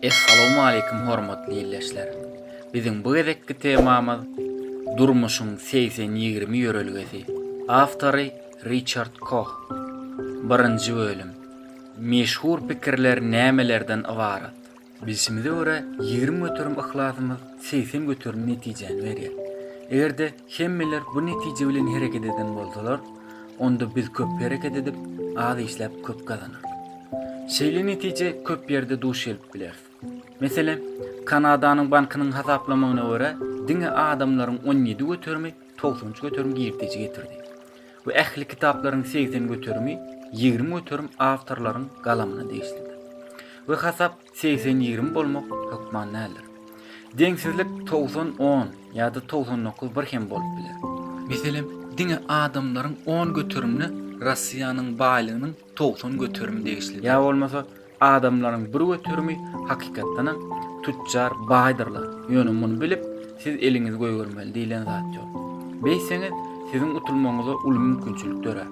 Essalowmaleýkim hormatly ildeşler! Biziň bu gezekki temamyz Durmuşyň segsen ýigrimi ýörelgesi. Awtory Riçard Koh. Birinji bölüm. Meşhur pikirler nämelerden ybarat? Bilşimize görä, ýigrimi göterim yhlasymyz segsen göterim netijäni berýär. Eger-de Hemmeler bu netije bilen hereket eden bolsalar, onda biz köp hereket edip, az işläp köp gazanarys. Şeýle netije köp ýerde duş gelip bileris. Meselem, Kanadanyň bankynyň hasaplamagyna görä, diňe adamlaryň on ýedi göterimi togsan üç göterim girdeji getirdi we ähli kitaplaryň segsen göterimi ýigrimi göterim awtorlaryň galamyna degişlidir we hasap Segsen ýigrimi bolmak hökman däldir. Deňsizlik togsan on ýa-da togsan dokuz bir hem bolup biler. Meselem, diňe adamlaryň on göterimine Rossiýanyň baýlygynyň togsan göterimi degişlidir. Ýa bolmasa, adamlaryň bir göterimi hakykatdanam tütjar, baýdyrlar. Ýöne muny bilip, siz eliňizi goýbermeli diýlen zat ýok. Beýtseňiz, siziň utulmagyňyza uly mümkinçilik dörär.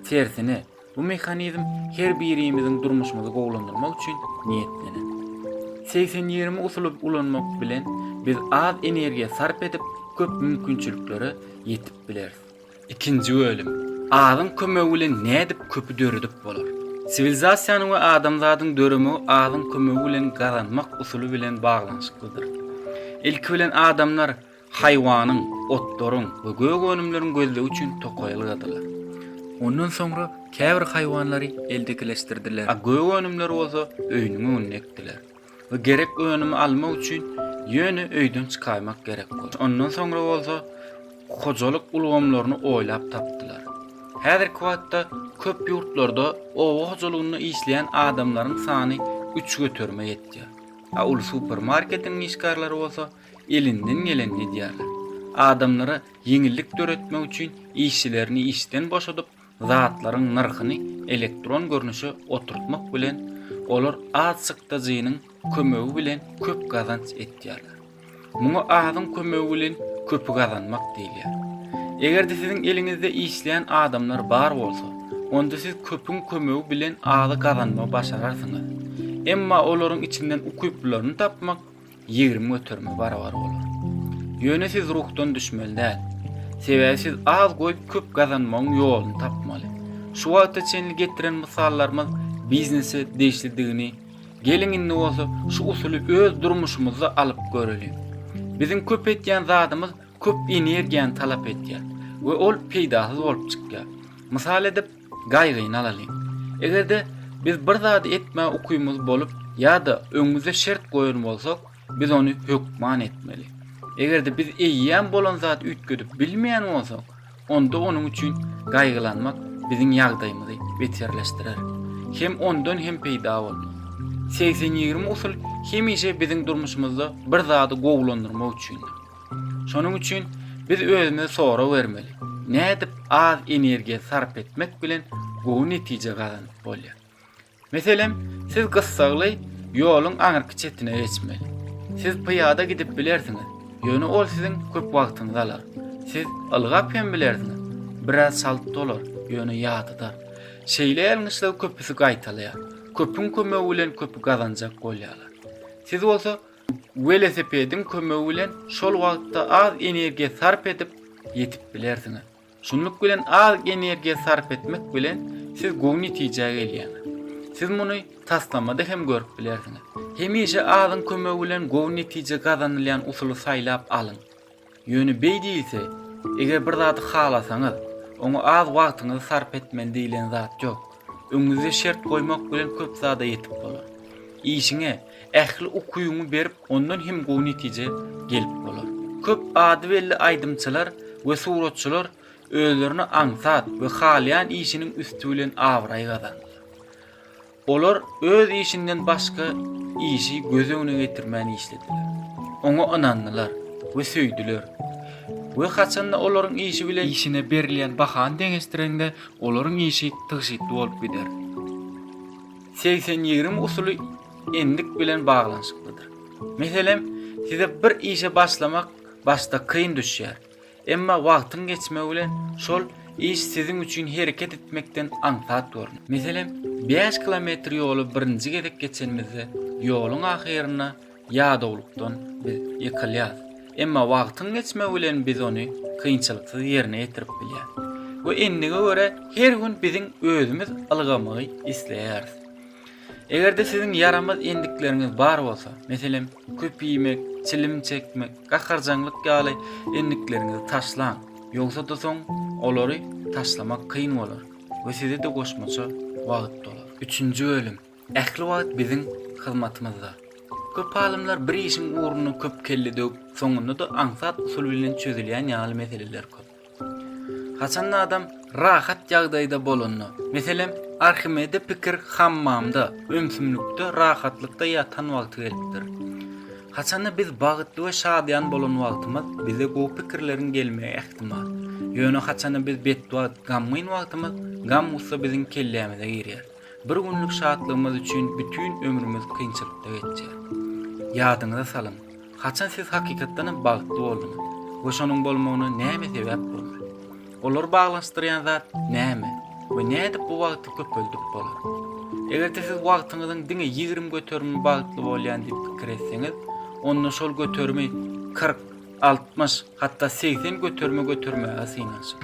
Tersine, Bu mehanizm her birimiziň durmuşymyzy gowulandyrmak üçin niýetlenen. Segsen ýigrimi usuly ulanmak bilen biz az energiýa sarp edip, köp mümkinçiliklere ýetip bileris. Ikinji bölüm. Azyň kömegi bilen nädip köpi döredip bolar? Siwilizasiýanyň we adamzadyň döremegi azyň kömegi bilen gazanmak usuly bilen baglanyşyklydyr. Ilki bilen adamlar. Haýwanyň, otlaryň we gök önümleriň gözlegi üçin tokaý ylgadylar. Ondan soňra käbir haýwanlary eldekileşdirdiler, a gök önümleri bolsa öýüniň öňünde ekdiler we gerek önümi almak üçin ýöne öýden çykaýmak gerek boldy. Ondan soňra bolsa hojalyk ulgamlaryny oýlap tapdylar. Häzirki wagtda köp ýurtlarda oba hojalygynda işleýän adamlaryň sany üç göterime ýetýär, a uly supermarketiň işgärleri bolsa elinden geleni edýärler. Adamlara ýeňillik döretmek üçin işçilerini işden boşadyp, zatlaryň nyrhyny elektron görnüşe oturtmak bilen, olar azçykdajynyň kömegi bilen köp gazanç etýärler. Muňa azyň kömegi bilen köpi gazanmak diýilýär. Eger-de siziň eliňizde işleýän adamlar bar bolsa, onda siz köpüň kömegi bilen azy gazanmagy başararsyňyz. Emma olaryň içinden ukyplylaryny tapmak ýigrimi göterime barabar bolar. Ýöne siz ruhdan düşmeli däl. Sebäbi siz az goýup köp gazanmagyň ýoluny tapmaly. Şu wagta çenli getiren mysallarymyz biznese degişlidigini geliň indi bolsa şu usuly öz durmuşymyzda alyp göreliň. Biziň köp etýän zadymyz köp energiýany talap edýär we ol peýdasyz bolup çykýar. Mysal edip, Gaýgyny alalyň. Eger-de biz bir zady etmäge ukymyz bolup ýa-da öňümizde şert goýan bolsak, biz ony hökman etmeli. Eger-de biz eýýäm bolan zady üýtgedip bilmeýän bolsak, onda onuň üçin gaýgylanmak biziň ýagdaýymyzy beterleşdirer. Hem ondan hem peýda bolmaz. Segsen ýigrimi usul hemişe biziň durmuşymyzda bir zady gowulandyrmak üçindir. Şonuň üçin biz özümize sorag bermeli, nädip az energiýa sarp etmek bilen gowy netije gazanyp bolýar? Meselem, siz gyssagly ýoluň aňyrky çetine geçmeli. Siz pyýada gidip bilersiňiz, ýöne ol siziň köp wagtyňyzy alar. Siz ylgap hem bilersiňiz, biraz çalt dolar, ýöne ýadadar. Şeýle ýalňyşlygy köpüsi gaýtalaýar. Köpüň kömegi bilen köpi gazanjak bolýarlar. Siz bolsa Welosipediň kömegi bilen şol wagtda az energiýa sarp edip ýetip bilersiňiz. Şunluk bilen az energiýa sarp etmek bilen siz gowy netijä gelýäňiz. Siz muny taslamada hem görüp bilersiňiz. Hemişe azyň kömegi bilen gowy netije gazanylýan usuly saýlap alyň. Ýöne beý diýilse, eger bir zady halasaňyz, oňa az wagtyňyzy sarp etmeli diýilen zat ýok. Öňüňizde şert goýmak bilen köp zada ýetip bolar. Işiňe ähli ukyňy berip ondan hem gowy netije gelip bolar. Köp ady belli aýdymçylar we suratçylar özlerine aňsat we halaýan işiniň üsti bilen abraý gazandylar. Olar öz işinden başga işi göz öňüne getirmän işlediler. Oňa ynandylar we söýdüler. We haçanda olaryň işi bilen işine berilýän bahany deňeşdireňde, olaryň işi tygşytly bolup gider. Segsen ýigrimi usuly endik bilen baglanyşyklydyr. Meselem, size bir işe başlamak başda kyn düşýär. Emma wagtyň geçmegi bilen şol iş siziň üçin hereket etmekden aňsat görüner. Meselem, bäş kilometr ýoly birinji gezek geçenimizde, ýoluň ahyrynda ýadawlykdan biz ýykylýarys. Emma wagtyň geçmegi bilen biz ony kynçylyksyz ýerine ýetirip bilýäris. We endige görä her gün biziň özümiz ylgamagy isleýäris. Eger-de siziň ýaramaz endikleriňiz bar bolsa, meselem, köp iýmek, çilim çekmek, gaharjaňlyk ýaly endikleriňizi taşlaň, ýogsa-da soň olary taşlamak kyn bolar we size-de goşmaça wagt dolar. Üçünji bölüm ähli wagt biziň hyzmatymyzda. Köp alymlar bir işiň ugruna köp kelle döwüp, soňunda-da aňsat usul bilen çözülýän ýaly meseleler köp. Haçanda adam rahat ýagdaýda bolanda, meselem, Arhimede pikir hammamda, ümsümlikde, rahatlykda ýatan wagty gelipdir. Haçanda biz bagtly we şadyýan bolan wagtymyz, bize gowy pikirleriň gelmegi ähtimal. Ýöne haçanda biz betbagt, gamgyn wagtymyz, gam-gussa biziň kellämize girýär. Bir günlük şatlygymyz üçin bütin ömrümiz kynçylykda geçýär. Ýadyňyza salyň, haçan siz hakykatdanam bagtly bolduňyz we şonuň bolmagyna näme sebäp boldy? Olary baglanyşdyrýan zat näme we nädip bu wagty köpeldip bolar? Eger-de siz wagtyňyzyň diňe ýigrimi göterimi bagtly bolýan diýip pikir etseňiz, onda şol göterimi kyrk, altmyş, hatda segsen göterime götermäge synanyşyň.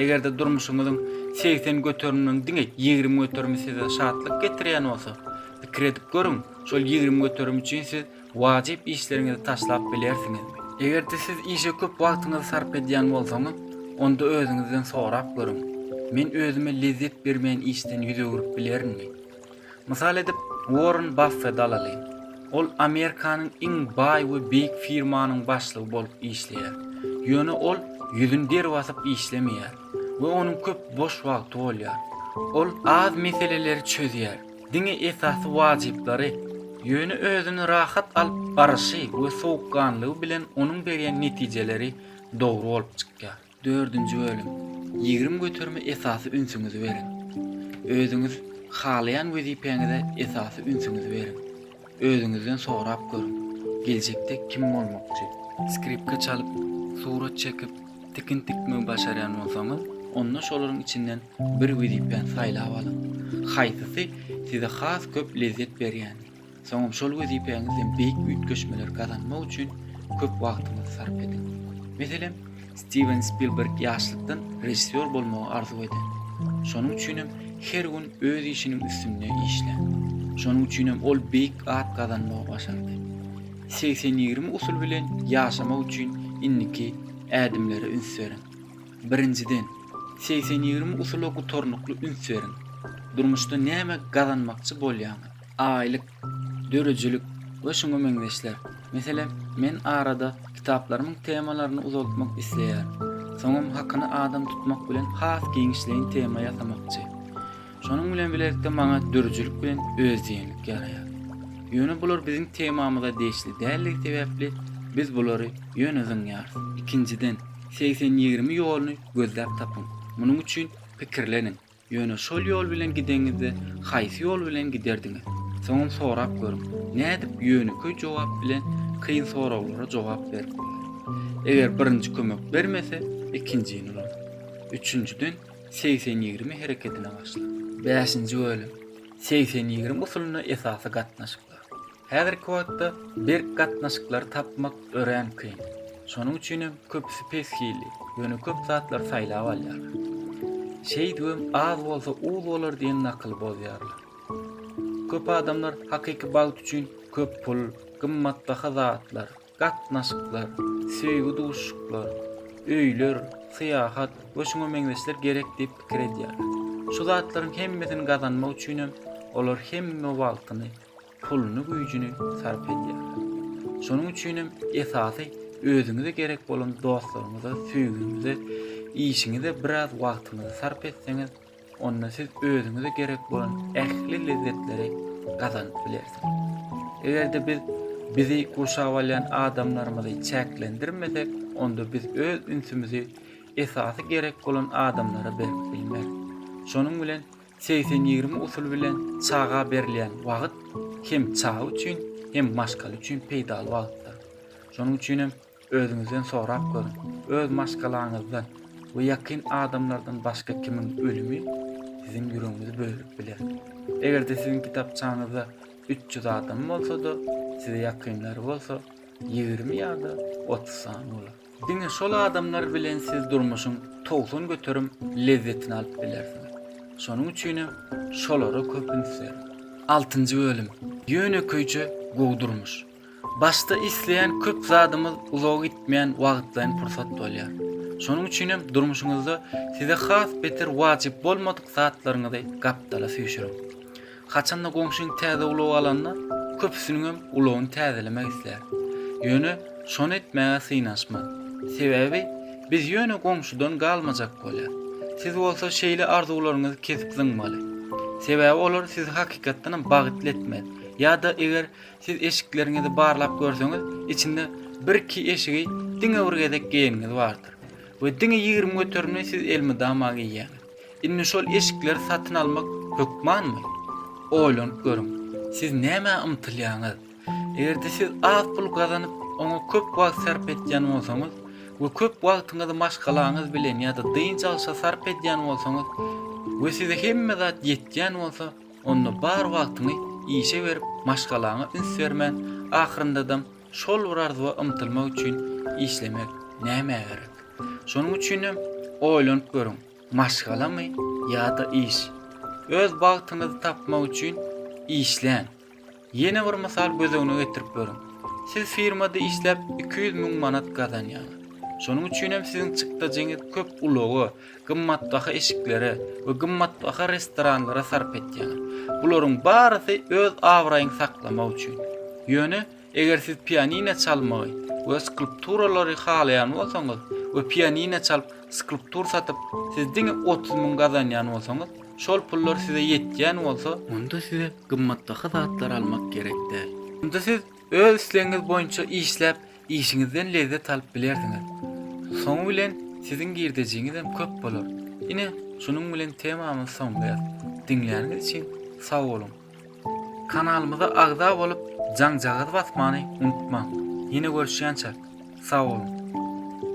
Eger-de durmuşyňyzyň segsen göteriminiň diňe ýigrimi göterimi size şatlyk getirýän bolsa, pikir edip görüň, şol ýigrimi göterim üçin siz wajyp işleriňizi taşlap bilersiňizmi? Eger-de siz işe köp wagtyňyzy sarp edýän bolsaňyz, onda özüňizden sorap görüň, Men özüme lezzet bermeýän işden ýüz öwrüp bilerinmi? Mysal edip, Uorren Baffet alalyň. Ol Amerikanyň iň baý we beýik firmanyň başlygy bolup işleýär. Ýöne ol ýüzüni deri basyp işlemeýär we onuň köp boş wagty bolýar. Ol az meseleleri çözýär, diňe esasy wajyplary. Ýöne özüni rahat alyp baryşy we sowukganlygy bilen onuň berýän netijeleri dogry bolup çykýar. Dördünji bölüm. Ýigrimi göterime esasy ünsüňizi beriň. Özüňiz halaýan wezipäňize esasy ünsüňizi beriň. Özüňizden sorap görüň, geljekde kim bolmakçy? Skripka çalyp, surat çekip, tikin tikmegi başarýan bolsaňyz, onda şolaryň içinden bir wezipäni saýlap alyň. Haýsysy size has köp lezzet berýäni? Soňam şol wezipäňizden beýik üýtgeşmeleri gazanmak üçin köp wagtyňyzy sarp ediň. Meselem, Stiwen Spilberg ýaşlykdan režissýor bolmagy arzuw eden. Şonuň üçinem her gün öz işiniň üstünde işlän. Şonuň üçinem ol beýik at gazanmagy başardy. Segsen ýigrimi usuly bilen ýaşamak üçin indiki ädimlere üns beriň. Birinjiden, segsen ýigrimi usula gutarnykly üns beriň. Durmuşda näme gazanmakçy bolýaňyz? aýlyk, dörüjilik we şuňa meňzeşler. Meselem, men arada kitaplarymyň temalaryny uzaltmak isleýärin. Soňam hakyny adam tutmak bilen has giňişleýin tema ýasamakçy. Şonuň bilen bilelikde maňa dörüjilik bilen özdiýenlik ýaraýar. Ýöne bular biziň temamyza degişli däldigi sebäpli biz bulary ýöne zyňýarys. Ikinjiden, segsen ýigrimi ýoluny gözläp tapyň. Munuň üçin pikirleniň. Ýöne şol ýol bilen gideňizde haýsy ýol bilen giderdiňiz? Soňam sorap görüň. Nädip ýönekeý jogap bilen kyn soraglara jogap berip bolar? Eger birinji kömek bermese, ikinjini ulaň. Üçünjiden segsen ýigrimi herekedine başlaň. Bäşinji bölüm. Segsen ýigrimi usulynda esasy gatnaşyklar. Häzirki wagtda berk gatnaşyklary tapmak örän kyn. Şonuň üçin hem köpüsi pes hilli, ýöne köp zatlary saýlap alýarlar. Şeýdibem az bolsa uz bolar diýen nakyly bozýarlar. Köp adamlar hakyky bagt üçin köp pul, gymmatbaha zatlar, Gatnaşyklar, söýgi duşuşyklar, öýler, syýahat we şuňa meňzeşler gerek diýip pikir edýärler. Şu zatlaryň hemmesini gazanmak üçinem olar hemme wagtyny, puluny, güýjüni sarp edýärler. Şonuň üçinem esasy özüňize gerek bolan dostlaryňyza, söýgiňize, işiňize biraz wagtyňyzy sarp etseňiz, Onda siz özüňize gerek bolan ähli lezzetleri gazanyp bilersiňiz. Eger-de biz bizi gurşap alýan adamlarymyzy çäklendirmesek, onda biz öz ünsümizi esasy gerek bolan adamlara berip bilmeris. Şonuň bilen segsen ýigrimi usuly bilen çaga berilýän wagt hem çaga üçin, hem maşgala üçin peýdaly wagtdyr. Şonuň üçin hem. Özüňizden sorap görüň, öz maşgalaňyzdan we ýakyn adamlardan başga kimiň ölümi siziň ýüregiňizi bölüp biler? Eger-de siziň kitapçaňyzda üç ýüz adam bolsa-da, size ýakynlary bolsa, ýigrimi ýa-da otuz sany bolar. Diňe şol adamlar bilen siz durmuşyň togsan göterim lezzetini alyp bilersiňiz. Şonuň üçinem şolara köp üns beriň. Altynjy bölüm, Ýönekeýje gowy durmuş. Başda isleýän köp zadymyz uzaga gitmeýän wagtlaýyn pursat bolýar. Şonuň üçin hem durmuşyňyzda size has beter wajyp bolmadyk zatlaryňyzy gapdala süýşüriň. Haçanda goňşyň täze ulag alanda, köpüsiniň hem ulagyny täzelemek islär. Ýöne şony etmäge synanyşma. Sebäbi biz ýöne goňşudan galmajak bolýar. Siz bolsa şeýle arzuwlaryňyzy kesip zyňmaly. Sebäbi olar sizi hakykatdan hem bagytly etmez. Ýa-da eger Siz eşikleriňizi barlap görseňiz, içinde birki eşigi diňe bir gezek geýeniňiz bardyr. We diňe ýigrimi göterimini siz elmydama geýýäňiz. Indi şol eşikleri satyn almak hökmanmy? Oýlanyp görüň. Siz nämä ymtylýaňyz? Eger-de siz az pul gazanyp, oňa köp wagt sarp etýän bolsaňyz we köp wagtyňyzy maşgalaňyz bilen ýa-da dynç alşa sarp edýän bolsaňyz we size hemme zat ýetýän bolsa, Onda bar wagtyňy işe berip, maşgalaňa üns bermän, ahyryndadam şol bir arzuwa ymtylmak üçin işlemek nämä gerek? Şonuň üçinem oýlanyp görüň, maşgalamy ýa-da iş? Öz bagtyňyzy tapmak üçin işläň! Ýene bir mysal göz öňüne getirip görüň. Siz firmada işläp iki ýüz müň manat gazanýaňyz. Şonuň üçinem siziň çykdajyňyzy köp ulaga, gymmatbaha eşiklere we gymmatbaha restoranlara sarp etýäňiz. Bularyň barysy öz abraýyňy saklamak üçin. Ýöne eger siz pianino çalmagy we skulpturalary halaýan bolsaňyz we pianino çalyp skulptur satyp siz diňe otuz müň gazanýan bolsaňyz, Şol pullar size ýetýän bolsa, onda size gymmatbaha zatlar almak gerek däl. Onda siz öz islegiňiz boýunça işläp, işiňizden lezzet alyp bilersiňiz. Soňy bilen siziň girdejiňiz hem köp bolar. Ine, şunuň bilen temamyzy soňlaýas. Diňläniňiz üçin sag boluň! Kanalymyza agza bolup, jaňjagazy basmany unutmaň! Ýene görüşýänçäk, sag boluň!